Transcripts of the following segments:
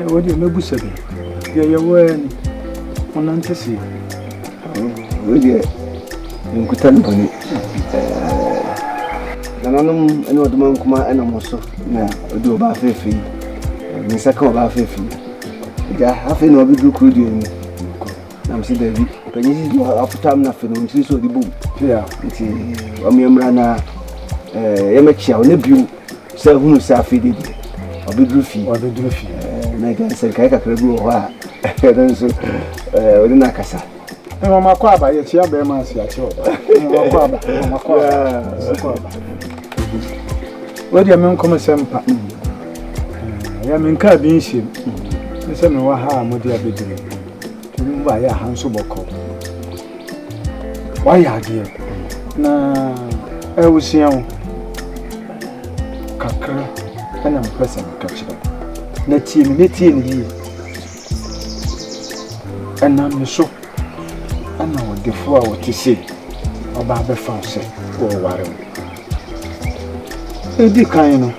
Ɛwɔ deɛ mɛbu sɛ bi deɛ yɛwɔ ani ɔnante se wei deɛ nkuta ne bɔne nananom ne ɔdoma nkoma ɛna mo so na ɔde ɔba afeefe yi ne nsa ka ɔba afeefe yi agya afei na ɔbɛduru kuro deɛ mu na mese daabi ɔpanyin sisi no apotam no afei no ɔmsiri sɛ ɔde bom nti ɔmeɛmmra na yɛmɛkyea ɔnɛ bio sɛ hunu sɛ afei de deɛ ɔbɛduru fie ɔbɛduru fie na agya sɛ nkae kakra bi wɔ hɔ a ɛno nso ɔde no akasa mmakɔ aba yɛkyea bɛrima ase akyerɛ ɔba mmakɔ aba mmakɔ aba wodeɛ menkɔm sɛ mpa yɛ menkaa bi nhyɛm ne sɛ mewɔ ha a mode abɛduru Ɔno ba yɛ aha nso bɔkɔɔ. Wayɛ adeɛ na ɛwosua wo kakra ɛna mpɛ sɛ meka kyerɛ na tie me mɛtie ne yie ɛnam ne so ɛna ɔdefoɔ a wɔte sei ɔba abɛfa sɛ wɔware wo ɛdi kan no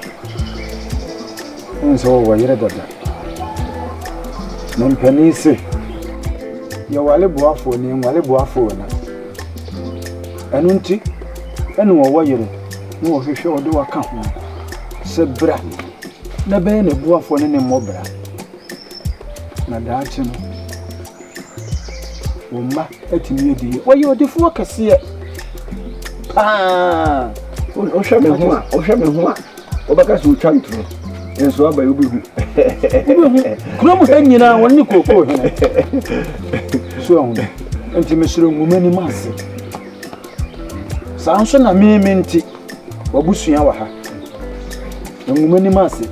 Wohu sɛ wɔwɔ yere dada. Me mpanin se, yɛwale boafoɔ ni, nwale boafoɔ ni. Ɛno nti, ɛna wɔwɔ yere na wɔhwehwɛ wɔde waka ho sɛ bra na bɛyɛ ne boafoɔ ne ne mmɔbra. Na daakye no, wɔn mma atumi adi yie. Wɔyɛ ɔdefoɔ kɛseɛ paa. Wohwɛ me ho a, wohwɛ me ho a. Wobɛka sɛ wotwa ntorɔ nso aba yi wobɛhu. Wobɛhu kuro mu ha nyinaa wɔn ne kookoo hene. So ahu nti mesoro nwoma anim ase. Saa nso na me me nti wabusua wɔ ha. Nwoma anim ase.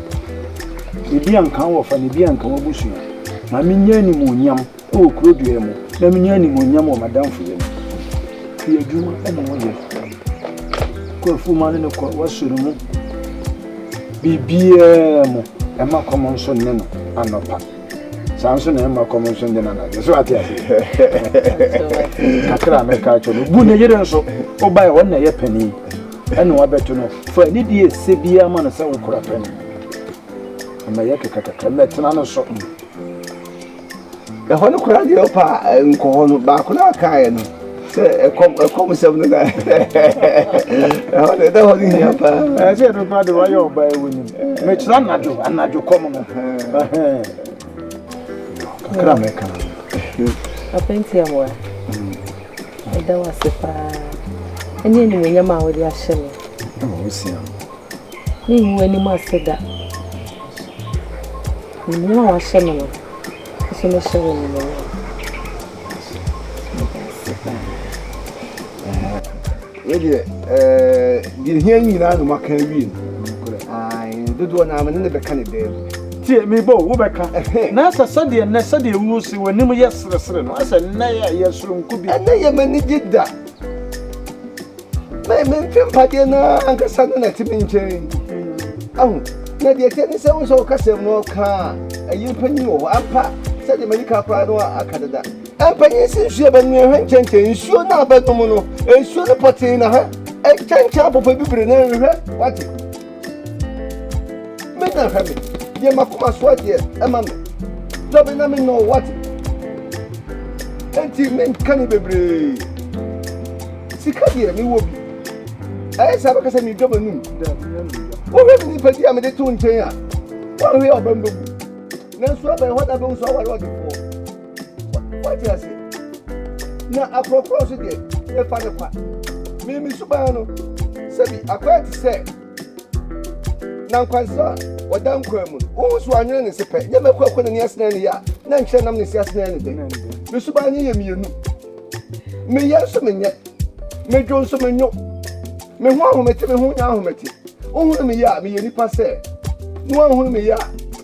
Ebi anka wɔfa na ebi anka wabusua. Maame nyɛ animuonyam. wɔ kuro biara mu na menya animuonyam wɔ m'adamfoyɛ mu. Fi adwuma na wɔyɛ. Kɔ afuma no ne kɔ wasɔre mu. Biribiara mu ɛma kɔm nso ne no anɔpa. Saa nso na ɛma kɔm nso ne no anadwo. So ate ase? Kakra a mɛka akyerɛ no. Bu ne yere nso. Wobae wɔn na ɛyɛ panin. Ɛna wabɛto no. Fa ne deɛ ɛsɛ biara ma no sɛ wokora panin. Ɛma ɛyɛ kakakaka. Mɛtena no so. Ɛhɔ no koraa deɛ ɔpa nkɔ hɔ no baako no akaeɛ no sɛ ɛkɔm ɛkɔm sɛm no na ɛhɔ no ɛda hɔ no hia paa ɛɛ sɛ ɛno koraa de wayɛ ɔba ɛwɔ nim mekyerɛ anadwo anadwo kɔm no kakra mɛka apɛnti amoa ɛda wo ase paa ɛne animonyam a wode ahyɛ me Merengu w'anim ase da. Menim a woahyɛ me no, wo nso mɛhyɛ wo animuonyam. Meda ase paa. Yɛdeɛ, ɛɛ, deɛ hia nyinaa na maka awie no. Dodoɔ naa me ne ne bɛka ne dɛm. Tie, mebɔ wo, wobɛka, ɛhɛ. Na sɛ sɛdeɛ nnɛ, sɛdeɛ wuo se w'anim yɛ seresere no, sɛ nnɛ yɛ, yɛ soronko bi. Ɛnnɛ yɛ m'anigye da. Me me mfe mpadeɛ no ara ankasa no na ɛte me nkyɛn. Ahu, na deɛ ɛteɛ ne sɛ wo sɛ wo kasɛm no ɔka a, ɛyɛ mpanyin wɔ hɔ ampa sɛdeɛ m'ani ka koraa no aka dada. Mpanyin si nsuo bɛ no ɛhwɛ nkyɛnkyɛn nsuo no a bɛnom no, nsuo no pɔtee na ha ɛnkyɛnkyɛn apɔpɔ bibire no ɛnhwɛ, wate. mɛnya hwɛ me deɛ makoma so adeɛ ɛma me dɔ me na menyɛ ɔwate enti menka ne bebree sika deɛ mewɔ bi ɛyɛ sɛ bɛka sɛ medɔ m'anum wohwɛ me nipadi a mede to nkyɛn a woahwɛ ɔbɛm bɛgu nanso abɛn hɔ da bɛhu so aware ɔdefoɔ wate ase na akorɔkorɔ nso deɛ ɛfa no kwa mimi suban no sɛbi akɔyɛ te sɛ na nkwansa a wɔda nkwa mu no wohu so anwene ne se pɛ nyɛ mɛkɔ akɔ n'ani asena ne yɛ a na nkyerɛ nam ne se asena ne dɛ me suban no yɛ mmienu meyɛ nso menyɛ medwo nso menwo me ho ahomete me ho nya ahomete wohunu meyɛ a meyɛ nipa sɛ na woahunu meyɛ a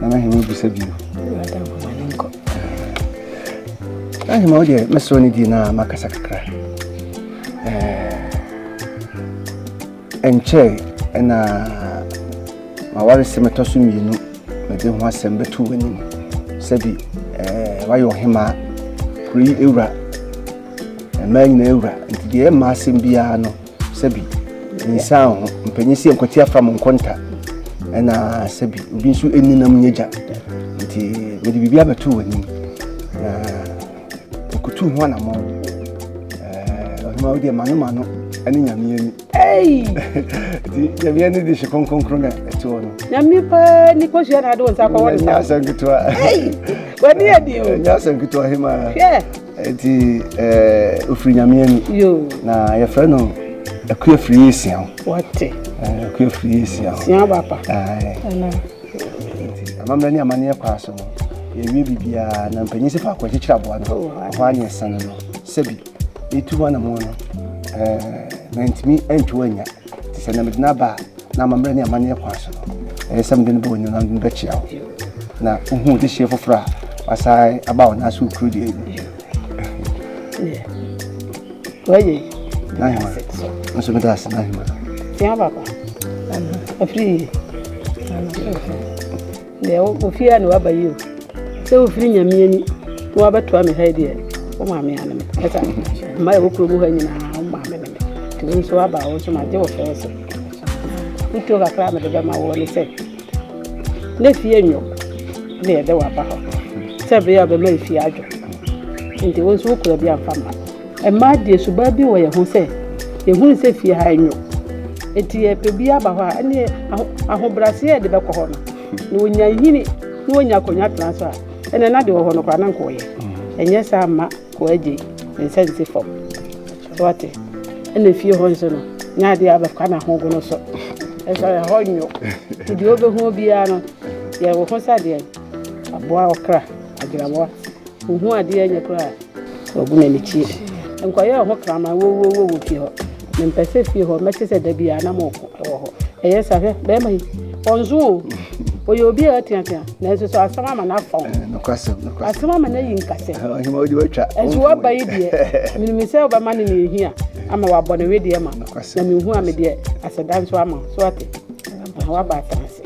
Nana Hema bisa bio. Nana Hema wo deɛ mɛsrɛ ne die no a makasa kakra. Ɛnkyɛ ɛna maware sɛ mɛtɔ so mmienu mede ho asɛm bɛto w'anim sɛbi wayɛ ɔhema kuro yi awura mmaa nyinaa awura nti deɛ ɛma asɛm biara no Sɛbi, nyisaa wo ho. Mpanyin si nkwati afa mo nkonta. Ɛna sɛbi, obi nso ɛni nam nyɛ gya. Nti, mede biribi abɛto w'anim. Na ɔkutu ho anamɔ. Ɔhema wo deɛ mano mano ɛne nyame ani. Nti, nyame ani de hye kronkronkron na ɛte hɔ no. Nyame paa ni kɔhyia na ade wo nsa kɔwɔ ne sa. Nyɛ asɛm ketewa. W'ani adi o. Nyɛ asɛm ketewa hema. Hwɛ. Eti ɛɛ ofiri nyame ani. Yoo. Na yɛfrɛ no akuya firi yɛ esia ho. Wɔte. Ɛɛ akuya firi yɛ esia ho. Sia ba pa. Ɛɛ. Ɛna. Amammerɛ ne amaneɛ kɔ aso no yɛwie biribiara na mpanyin si faako akyekyere aboa no oh, ɛhɔ a ne yɛsɛn no sɛbi yɛtu hɔ anamɔ no ɛɛ mantumi antwi anya te sɛ na mede no aba a Na amammerɛ ne amanneɛ kwan so no, ɛyɛ sɛ mede no bɛwɔ nneɛma no bɛkyea wo. Na wohu dehyeɛ foforɔ a wasan aba wo nan so kuro deɛ yi. Wɔyɛ. N'ahema. Nso meda ase n'ahema. Tia papa. Afiri. Deɛ ofie a na waba yi o sɛ ofiri nyame ani na wabɛtoa me ha yi deɛ wo maame ano me ɛsa mma ɛwɔ kuro mu ha nyinaa wo maame ne me nti wo nso waba wo nso magye wo fɛɛ so wotuo kakra a mede bɛma woɔ ne sɛ na fie nnwo ne yɛde waba hɔ sɛ bere a bɛma fie adwo nti wo nso wokura bi amfa mma Mmaa deɛ suban bi wɔ yɛn ho sɛ yɛhunu sɛ fie ha nyo nti yɛpɛ bi aba hɔ a ɛneɛ ahobraseɛ yɛde bɛkɔ hɔ no na ɔnya nyini na ɔnya akonnwa tena so a ɛnɛ na deɛ wɔ hɔ no koraa na nkɔɔyɛ ɛnyɛ saa mma kɔ agye ne nsa nsi fam so ate ɛna fie hɔ nso no nya adeɛ abɛka na ho gono so ɛsɛ ɛhɔ nyo nti deɛ wobɛhu biara no yɛwɔ ho sɛ deɛ aboa ɔkra agyinamoa wohu adeɛ nyɛ koraa Wɔabu no anikyeɛ. Nkɔyɛ wo ho kraman wowuo wɔ fie hɔ. Mempɛ sɛ fie hɔ mɛte sɛ da biara na moko wɔ hɔ. Ɛyɛ sa hwɛ bɛrima yi. Ɔnso o. Ɔyɛ obi a ateatea nanso so asɛm ama no afa wo. Eh, asɛm ama no ayi nkasɛ. Ɛnso waba yi deɛ menim sɛ wobɛma no ne ɛhia ama wabɔ ne wedeɛ ma na mehu a medeɛ aseda nso ama so ate. Waba atena ase.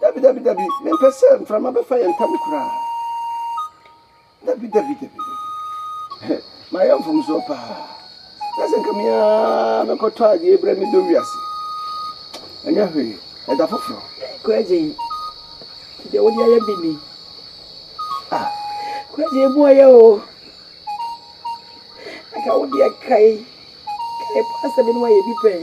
Dabi, dabi, dabi, mempɛ sɛ mframa bɛfa yɛn ntam koraa. Dabi, dabi, dabi, dabi. Mayɛ mfomsoɔ paa. Na sɛ nka me ara mekɔtɔ adeɛ brɛ me dɔ wiase. Ɛnyɛ hwee, ɛda foforɔ. Kwagye, deɛ wode ayɛ bi ni. Ah, kwagye ebu ayɛ o. Anka wode ɛkae, kae paa sɛ me ne wayɛ bi pɛn.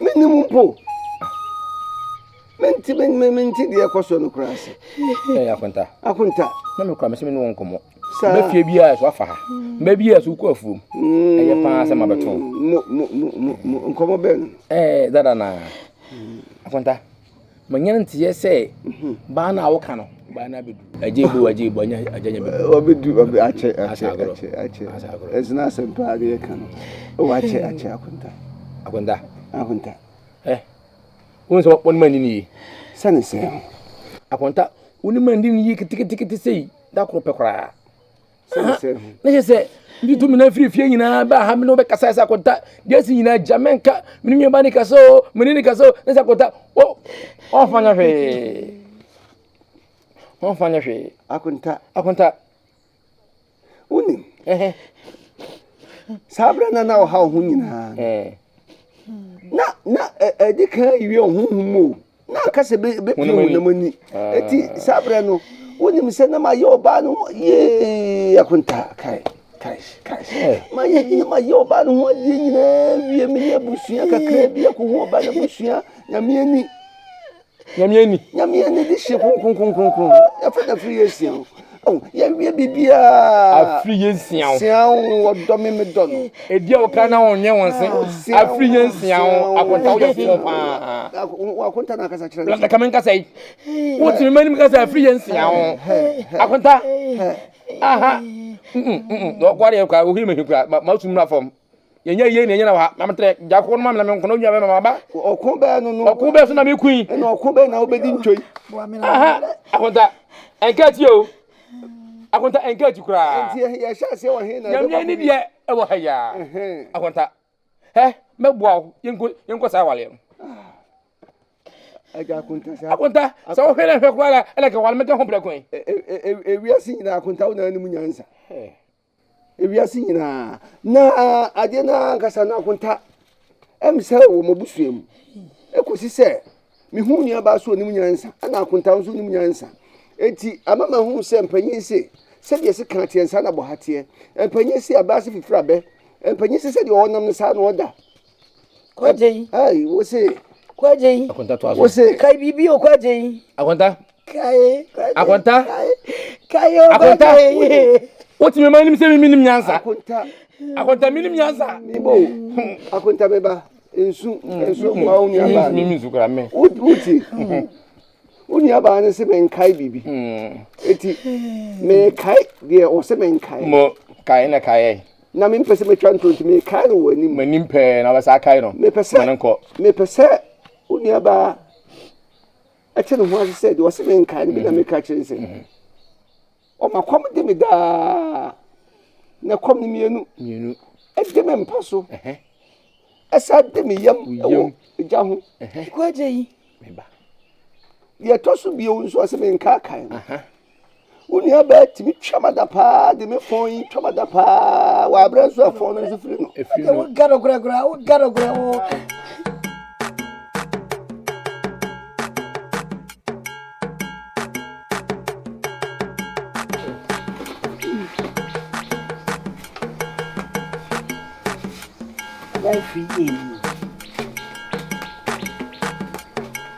Mennim mpo. Mente mente deɛ ɛkɔ so no koraa ase. Ɛyɛ akonta. Akonta. Na me kura me sɛ me ne wɔn nkɔmmɔ. Saa. Mɛ fie biara so afa ha. Mɛ biara so kɔ afuom. Mm. Ɛyɛ paa sɛ ma bɛtɔn. Mo mo mo mo nkɔmmɔ bɛn. Ɛɛ dada na. Akonta. manya nteɛ sɛ baa no a woka no baa no abɛdu agye bu agye bu anya agya nya bɛdu ɔbɛdu ɔbɛ akyɛ akyɛ akyɛ akyɛ ɛsena asɛm paa de yɛka no ɛwɔ akyɛ akyɛ akonta akonta akonta ɛ eh, wohu sɛ wɔne ma nini yi sɛne sɛ akonta wone ma nini yi ketekete sei da koro pɛ koraa ne yɛ sɛ ne tu mina firi fie nyinaa bɛ aha mene wobɛkasa sɛ akɔnta deɛ asi nyinaa gya mɛnka mene nua ba ne kasa o mene ne kasa o ne sɛ akɔnta ɔmfa nyɛ hwee ɔmfa nyɛ hwee akɔnta akɔnta wonim saa berɛ na na ɔha wo ho nyinaa na na ɛdi kan awie ɔhohom o Na anka sɛ bɛpia honam ani. Eti saa berɛ no, wonim sɛ na mayɛ ɔbaa no ho yee akontaa kae kae kae. Eh. Mayɛ hia mayɛ ɔbaa no ho adeɛ nyinaa wie meyɛ abusua kakra bi akɔhu ɔbaa no abusua nyame ani. Nyame ani. Nyame ani de hyɛ kronkronkronkron. Yɛfa na firi yɛ asia ho. Oh, yɛnwie biribiara. Afiri yɛ nsia wo. Sia wo, wɔdɔ me, medɔ no. Ɛdi a wɔka na wɔnyɛ wɔn se. Ah, Afiri yɛ nsia wo, akonta woyɛ fo paa. Akonta na akasa kyerɛ no. Ka me nkasa yi. Wotumi ma nim kasa afiri yɛ nsia wo. Akonta. Aha. Wɔkɔre yɛ kwa, ohiri me hekura, ma sumuna fam. yɛnyɛ yie na yɛnyɛ na wa na metrɛ gya kɔkɔɔ no ma me na me nkɔnɔ nwa bɛma maba ɔko bɛɛ no no ɔko bɛɛ so na me kui ɛna ɔko bɛɛ na wobɛdi ntwoi aha akonta ɛnka akyi o akonta ɛnka akyi koraa nti yɛhyɛ aseɛ wɔ he na yɛmyɛ ne deɛ ɛwɔ ha yia akonta hɛ mɛboa wo yɛnkɔ yɛnkɔ saa waleɛ no akonta sɛ wohwɛ na hwɛ koraa ɛna kɛ wale mɛka ho prɛko ɛ ewiase nyinaa akonta wo na anim nyansa Ewiase nyinaa. Na ade no ara ankasa no akonta ɛm sɛ wɔ m'abusua mu. Ɛkɔsi sɛ mehu nuabaa so ɔnim nyansa, ɛna akonta nso nim nyansa. Enti ama mahu sɛ mpanyin se, sɛdeɛ se kan teɛ saa na bɔha teɛ. Mpanyin se abaa se fifiri abɛ. Mpanyin se sɛdeɛ ɔnam no saa na ɔda. Kwagye yi. Ai, wo se. Kwagye yi. Akonta to aso. Wo se. Kae biribi o, Kwagye yi. Akonta. Akonta Akonta wotumi ma nim sɛ mimi nim nyansa Akonta mi nim nyansa. Ibo Akonta mi ba nsu nsu kuma wo nua baa mi nsu kura mi wuti wo nua baa ne se me nkae biribi eti me kae deɛ ɔsɛ me nkae mo kae na kae na me mpɛ sɛ metwa ntonti me kae no wɔ anim m'anim pɛɛ na wɔbɛsa kae no mepɛ sɛ mepɛ sɛ wo nua baa ɛte ne ho ase sɛ deɛ ɔse menkae no bi na mm-hmm. meka kyerɛ sɛ mm-hmm. ɔma kɔm de me daa na kɔm no mmienu ɛde me mpa so ɛsa de me yam ɛwɔ gya ho kwagye yi deɛ ɛtɔ so bio nso ɔse menkaakae no Wo nuabaa tumi twa mada paa de me fon yi twa mada paa wɔ aberɛ nso a fon no nso firi no. Ɛfiri no. Woga no korakora, woga no kora wo. Life free game.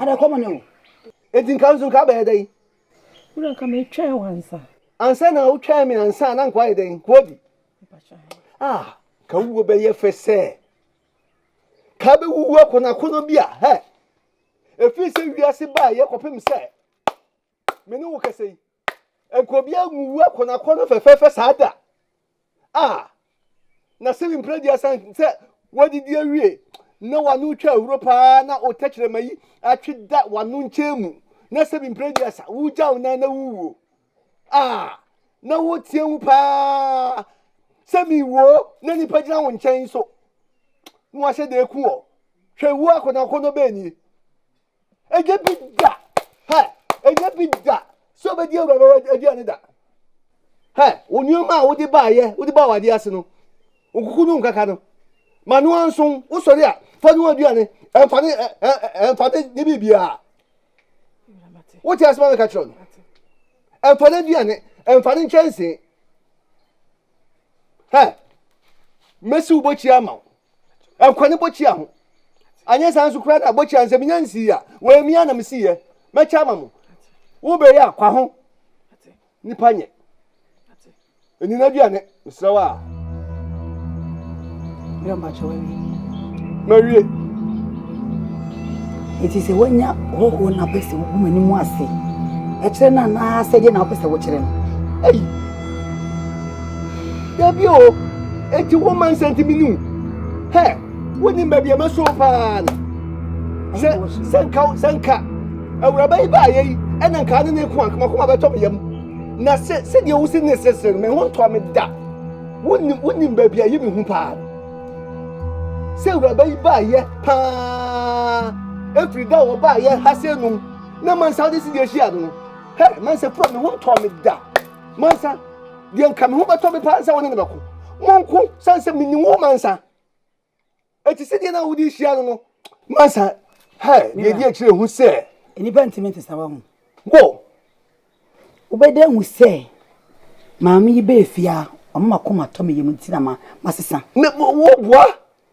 Ada kɔm ne o. Enti nka nso nka abɛyɛ dɛn? Wura nka metwɛn wansa. Ansa na wotwɛn me ansa na nka wayɛ dɛn? Kuobi. Ah, ka wuo bɛyɛ fɛ sɛ. Ka bɛwuwu akonakono bi a, hɛ. Ɛfiri sɛ wiase baa yɛ kɔpem sɛ. me ne wo kasa yi nka obiara nwu akɔnakɔna fɛfɛɛfɛ saa da a na sɛ mpira di asan sɛ wadidi awie na wano twa ahuro paa na o tɛkyerɛma yi atwe da wano nkyɛn mu na sɛ mpira di asa wogyaw nan na wowuo a na woteɛ mu paa sɛ mewuo na nipa gyina wo nkyɛn so na wahyɛ da aku ɔ hwɛ wu akɔnakɔnɔ bɛɛ nie Ɛnyɛ bi da! Hɛ! Ɛnyɛ bi da sɛ wobɛdi Awurade aduane da. Hɛ! Wo nneɛma a wode baayɛ, wode baa w'adeɛ ase no, nkuku no nkaka no, ma no anso wosɔre a fa no aduane, ɛmfa ne ɛmfa ne ne biribiara. Wote asɛm a meka kyerɛ no? Ɛmfa no aduane, ɛmfa ne nkyɛnsee. Hɛ! Mɛsi wo bɔkyia ama wo. Ɛkɔ ne bɔkyia ho. Anyɛ saa nso koraa na bɔkyia no sɛ menya nsii a, wɔyɛ mia na mesiiɛ. Mɛkyɛ ama mo. Wobɛyɛ a, kwa ho. Nipa nyɛ. Ɛni n'aduane, mesrɛ wo a. Bra mpakyɛ wawie. Mawie. Eti sɛ wanya hɔhoɔ na apɛ sɛ wogu m'anim ase ɛkyerɛ no anaa sɛdeɛ na wopɛ sɛ wokyerɛ no? Ei! dabi o eti wo ma nsɛntimi nu hɛ wonim baabi ɛma so paa no sɛ sɛ nka sɛ nka awuraba yi baayɛ yi ɛna nka ne ne ko akomakoma bɛtɔ me yam na sɛ sɛdeɛ wosi ne sesere no me ho ntɔ me da wonim wonim baabi a ɛyɛ me hu paa sɛ awuraba yi baayɛ paa efiri da wɔ baayɛ ha sɛ num na mansa de si deɛ ahyia no Hɛ, Mansa pira me ho ntɔɔ me da. Mansa, deɛ nka me ho bɛtɔ me paa sɛ wo ne no bɛko. Monko, sane sɛ menim wo Mansa. Ɛte sɛ deɛ na wode hyia no no. Mansa, Hɛ, deɛ ɛdi akyire hu sɛ. Nnipa ntumi nte saa wahu. Go. Wobɛda ahu sɛ maame yi bɛɛ fie a, ɔma m'akoma tɔ me yam nti na masesa. Me, wo, wo boa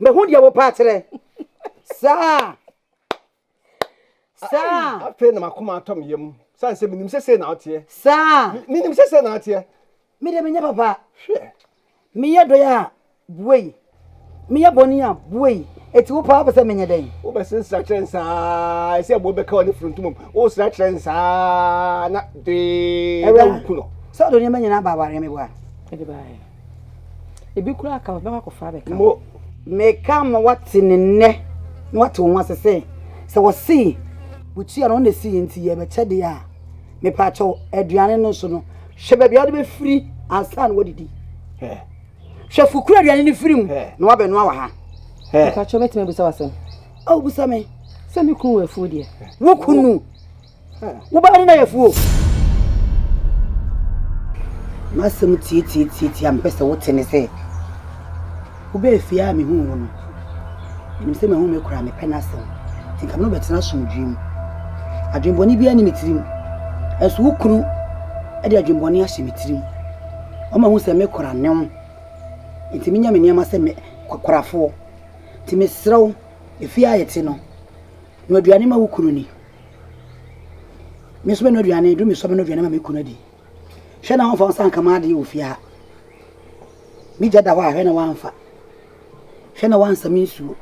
mahu deɛ wo paa kyerɛ saa saa afei na makoma atɔ me yam sane sɛ menim sɛ sei na woteɛ saa menim sɛ sɛ na woteɛ mede menyɛ papa hwɛ meyɛ dɔe a buei meyɛ bɔne a buei ɛti wo paa wopɛ sɛ menyɛ dɛn wobɛse nsra kyerɛ n saa ɛsɛ ɛboɔ bɛka ɔne frontomam wosra kyerɛ n saa na dee na woku no sɛ ɔde nneɛma nyinaa ba awareɛ meboa ebi koraa ka ɔbɛkɔ akɔfa abɛka mo meka ma wate ne nnɛ na wate wo ho ase sɛ sɛ wɔsee wotua no ɔna si yɛ nti yɛbɛkyɛ deɛ a mepa kyɛw aduane no nso no hwɛ baabi a wode bɛfiri ansa na wadidi hwɛ fukura aduane no firi mu na wabɛnoa wɔ ha mepa kyɛw mɛtumi abusa wasɛm a wobusa me sɛ me kunu wɔ afuo deɛ wo kunu Wobɛyɛ ne nayɛfo o. M'asɛm tiatiatiatia a mepɛ sɛ wote ne sɛ, wobɛɛ fie a mehuu wo no, menim sɛ mahu me koraa mepɛ n'asɛm, nti nka me ne wo bɛtena asomdwoe mu. Adwemmɔne biara nni me tirim, nanso wo kunu de adwemmɔne ahyɛ me tirim. Ɔma hu sɛ me kora ne wo, nti menya me nneɛma sɛ me korafoɔ. Nti mesrɛ wo, efie a yɛte no, Noa aduane ma wo kunu ni. Me nso mɛnoa aduane, duru mesɔ mɛnoa aduane ma me kunu adi. Hwɛ na wɔmfa wo nsa nka m'adeɛ wɔ fie ha. Me gya da hɔ a, hwɛ na wɔamfa. Hwɛ na wɔansa me nsuo.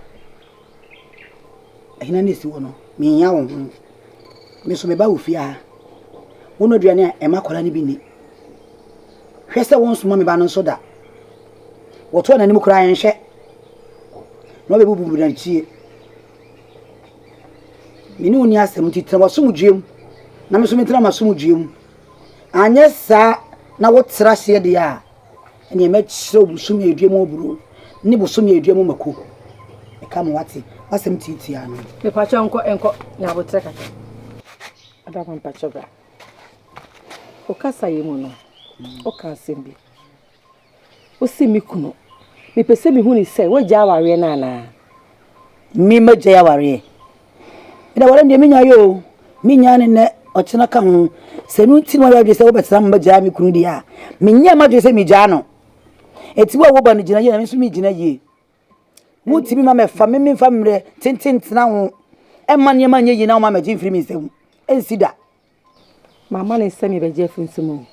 Ahina na ɛsi hɔ no, menhia wo ho. Me nso meba wo fie ha. Wonoa aduane a, ɛma akwadaa no bi ni. Hwɛ sɛ wonsoma me ba no nso da. Wɔtoa n'anim koraa yɛnhwɛ na wɔbɛbubu n'akyi. Me ne wo nni asɛm nti tena w'asomdwoeɛ mu, na me nso mentena m'asomdwoeɛ mu. Anyɛ saa na wotra aseɛ deɛ a, ɛnneɛ mɛkyerɛ wo bosome a ɛdua mu aburow ne bosome a ɛdua mu mako. Meka ma woate, m'asɛm tiatia no. Mepakyɛ nkɔ nkɔ na abotrɛ kakra. Adama mpakyɛ bra. Wo kasaeɛ mu no, woka asɛm bi. Ose, Me kunu, mepɛ sɛ mehu ne sɛ woagyae awareɛ no anaa? Me magyae awareɛ. Ɛna awareɛ no deɛ menyaeɛ o, menyaa no nnɛ, ɔkyena ka ho. Sɛ ɛno nti na wayɛ adwene sɛ wobɛtena ma magyae me kunu deɛ a, menyɛɛ m'adwene sɛ megyaa no. Enti wo a woba no gyina yie na me nso megyina yie. Wontumi ma mɛfa me memfa mmerɛ tenten ntena ho mma nneɛma nyɛ yie na woma magye mfiri me nsam. Ɛnsi da. Mamma no nsɛm yɛ bɛgye afiri nsam o.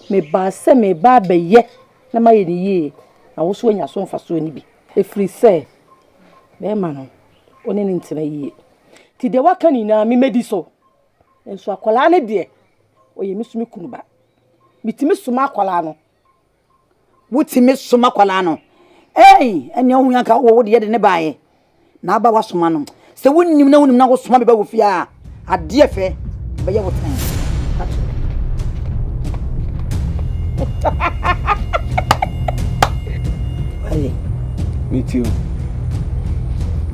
Mebaa sɛ mereba abɛyɛ na mayɛ no yie na wo nso woanya so mfasoɔ no bi. Ɛfiri sɛ bɛrima no, wo ne no ntena yie. Nti deɛ woaka nyinaa me mɛdi so. Nso akwadaa no deɛ, ɔyɛ me so me kunu ba. Metumi soma akwadaa no wotumi soma akwadaa no ei ɛnea ohun anka wɔ wo deɛ de ne baeɛ na aba wasoma no sɛ wonim na wonim na wosoma bi ba wo fie a adeɛ fɛ bɛyɛ wo tan Wale. Me too.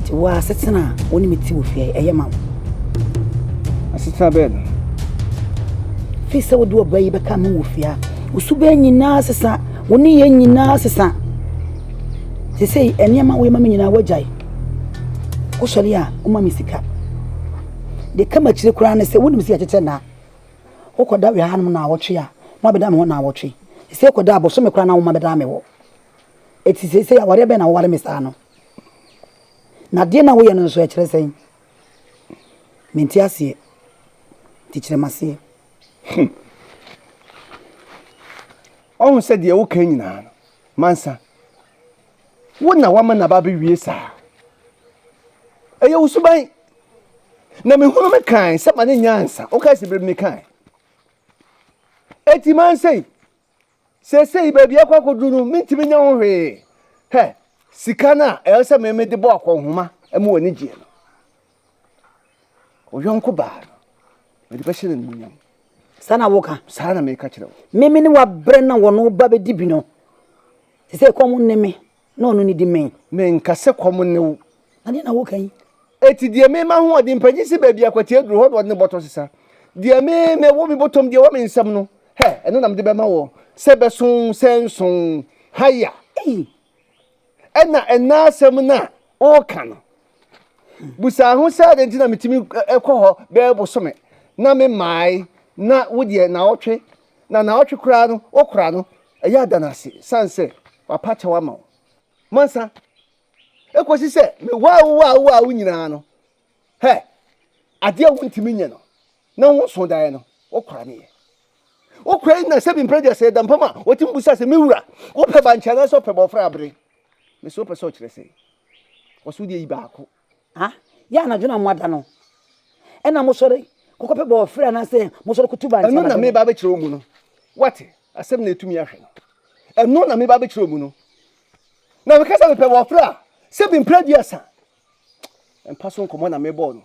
Ti wa asetena a wo ne me ti wo fie ɛyɛ ma wo. Asetena bɛɛ no. Fi sɛ wode ɔba yi bɛka me wɔ fie a Wo suban nyinaa sesa, wo nneyɛe nyinaa sesa. Seesei nneɛma a woyɛ ma me nyinaa woagyae. Wosɔre a, woma me sika. Deɛ ɛka m'akyire koraa ne sɛ wonim sɛ yɛkyekyɛ nna. Wokɔda wɔ hanom naawɔtwe a, woabɛda me hɔ naawɔtwe. Seesei wokɔda a, bosome koraa na woma bɛda me hɔ. Eti seesei awareɛ bɛn na woware me saa no? Na deɛ na woyɛ no nso ɛkyerɛ sɛn? Mente aseɛ, nti kyerɛ m'aseɛ. Hu. Ɔhu sɛ deɛ woka nyinaa no, mansa. Wo na wama n'aba abɛwie saa. Ɛyɛ wo suban. Na mehunu me kan sɛ ma ne nyansa. Wokae sɛ berɛ bi mekae. Eti mansa yi. Seesei baabi a ɛkɔ akɔduru no, mentumi nyɛ ho hwee. Hwɛ sika no a ɛwɔ sɛ mede bɔ akɔnhoma ma w'ani gyeɛ no. Wo yɔnko baa no, mede bɛhyɛ no animuonyam. Saa na woka? Saa na meka kyerɛ wo. Meme ne wo abrɛ na wɔne wo ba bɛdi bi no, te sɛ kɔm nne me. Na ɔno ne di me. Menka sɛ kɔm ne wo. Na deɛ na woka yi. Eti deɛ me ma hoɔden panyin si baabi a kwatia duru hɔ na ɔde ne bɔtɔ sesa. Deɛ me me wɔ me bɔtɔm deɛ wɔ me nsam no, hɛ, ɛno na mede bɛma wɔ sɛ bɛso sɛ nso haya. Ei! Ɛna ɛna asɛm no a woka no. Busaa ho sɛ adɛn nti na metumi kɔ hɔ bɛɛ bosome na me mmae na wo deɛ naawɔtwe Na naawɔtwe koraa no wokora no, ɛyɛ a da no ase, sane sɛ wapa kyɛw ama wo. Mansa, ɛkɔsi sɛ mewaa wo a wowaa wo nyinaa no, hɛ, adeɛ a wontumi nyɛ no, na wonso daeɛ no, wokora no yɛ. Wokora yi na sɛbi mprɛ deɛ sɛ ɛdampam a, wɔtumi bu sa sɛ, me wura, wopɛ bankye anaasɛ ɔpɛ bɔɔfrɛ abere? Me sɛ wopɛ sɛ ɔkyerɛ sɛ, wɔso deɛ yi baako. Ah, yɛ anadwo no a moada no, ɛnna mosɔre kɔkɔpɛ bɔɔfrɛ anaasɛ mosɔre kotu ba nteamadam. Ɛno na mereba abɛkyerɛ wo mu no. Woate? Asɛm na ɛtumi ahwɛ no. Ɛno na mereba abɛkyerɛ wo mu no. Na meka sɛ mepɛ bɔɔfrɛ a, sɛbi mprɛ aduasa. Mpa so nkɔmmɔ na merebɔ no.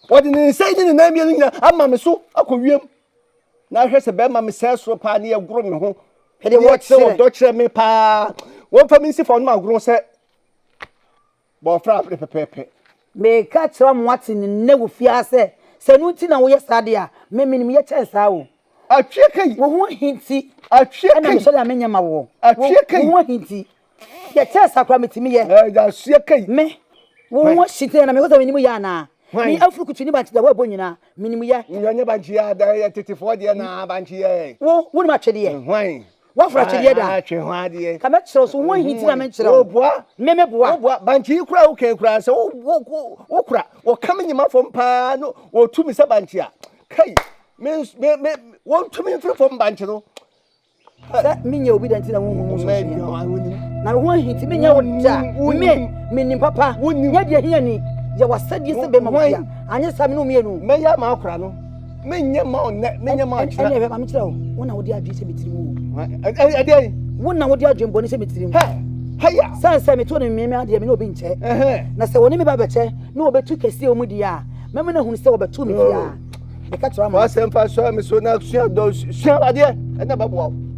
Ɔde ne nsa yi ne ne nan mmienu nyinaa ama me so akɔ wiem. Na ahwɛ sɛ bɛrima me sɛe soro paa ne ɛgoro me ho. Ɛdeɛ wɔkyerɛ. Wɔkyerɛ me paa. Wɔmfa me nsi fa ɔnom agorɔ sɛ Bɔ ɔfrɛ ahwere pɛpɛɛpɛ. Meka kyerɛ mo ate no nnɛ wɔ fie ha sɛ, sɛ ɛno nti na woyɛ saa de a, me menim yɛ kyɛn saa o. Atwea ka yi. Wo ho ahi nti na mehyɛ da menyɛ ma woɔ. Atwea ka yi. Wo ho ahi nti. Yɛ kyɛn saa koraa metumi yɛ. Atwea ka yi. Me, wo ho ahi nti na mehwɛ sɛ menim yɛ anaa? Me afurukutu ne bankye deɛ woabɔ nyinaa, menim yɛ. Nyɛ bankye a, ɛyɛ tetefoɔ deɛ na bankye yɛ. Wo, wonim atwedeɛ? Hwan? Wafra atwedeɛ da. Ah, twe ho adeɛ. Ka mɛkyerɛ so ho ahiti na menkyerɛ wo. Wobua. Me meboa. Wobua. Bankye yi kura wo kɛn kura sɛ wo wo wo kura. Wɔka me nyima fam paa no wɔtu me sɛ bankye a. Kai. Me me me wɔntu me mfiri fam bankye no. Sɛ menyɛ obi dɛn ti na wohu mu sɛ na wo ahiti menyɛ wo da. Me menim papa. Nyɛ deɛ hia ni. Yɛ wasɛdeɛ sɛ bɛma wo bia. Anyɛ saa me ne wo mmienu. Mɛyɛ ama akora no. menyɛ ma wo nnɛ menyɛ ma akyena ɛnɛ ɛbɛba mekyerɛ wo wo na wode adwene sɛ metiri mu ɛdeɛn wo na wode adwene bɔne sɛ metiri mu haya sane sɛ meto no mmeme adeɛ me ne obi nkyɛ na sɛ wɔne me ba bɛkyɛ na wɔbɛtu kɛseɛ wɔ mu deɛ a mɛma no ahunu sɛ wɔbɛto me biaa oh. meka kyerɛ ma asɛmfa sɔre me so na sua dɔ sua adeɛ ɛna bɛboa wo